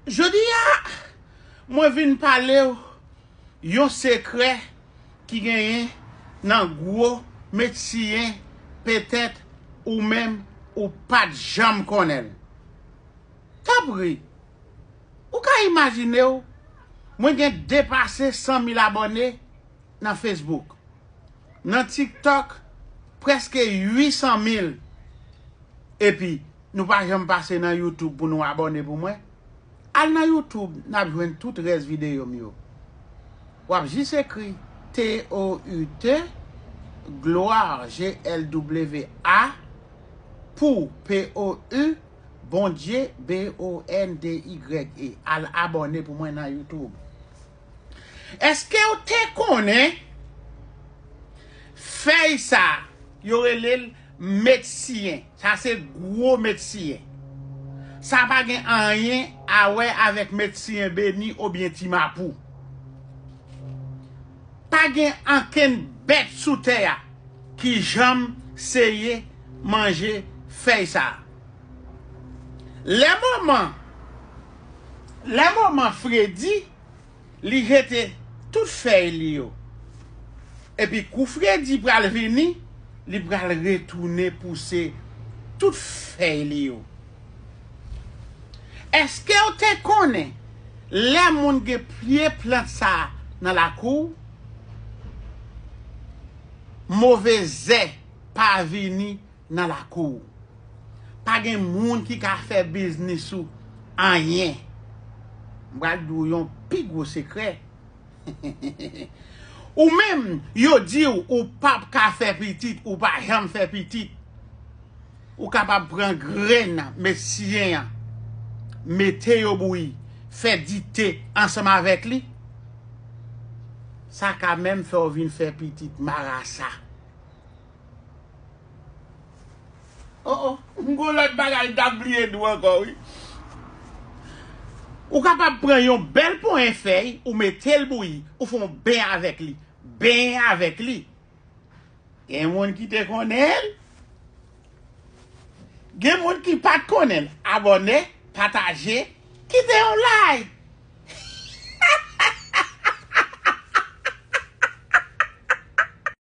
Jodi a, mwen vin pale w yon sekrè ki genyen nan gwo met siye petèt ou menm ou pa t janm konnen l. Tanpri, ou ka imajine w mwen gen depase 100 mil abòne? nan Facebook. Nan TikTok preske 800 mil epi nou pa janm pase nan YouTube pou nou abòne pou mwen? Al nan YouTube nap jwenn tout rès videyo m yo. Wap jis ekri TOUT Gloire GLWA pou POU Bondye BONDYE al abòne pou mwen nan YouTube. Eskew te konnen fèy sa yo relel medsiyen sa se gwo medsiyen sa pa gen anyen a wè avèk medsiyen beni obyen ti mapou pa gen ankenn bèt sou tè a ki janm seye manje fèy sa lè moman Lè moman fredi, li jete tout fèy li yo. Epi kou fredi pral vini, li pral retounen pouse tout fèy li yo. Eske w te konnen lè moun gen pye plant sa nan lakou w, move zè pa vini nan lakou ou. Pa gen moun ki ka fè biznis ou anyen. M pral di w yon pi gwo sekrè. Ou menm, yo di w ou pap ka fè pitit, ou pa janm fè pitit. Ou kapab pran grenn medsiyen an, mete yo bouyi, fè dite ansanm avèk li. Sa ka menm fè w vin fè pitit marasa. Oh oh, m gon lòt bagay m ta bliye di w ankò wi. Ou kapab pran yon bèl ponyen fèy, ou mete l bouyi, ou fè yon ben avèk li. Benyen avèk li. Gen moun ki te konnen l. Gen moun ki pa t konnen l. Abòne, pataje, kite yon lay.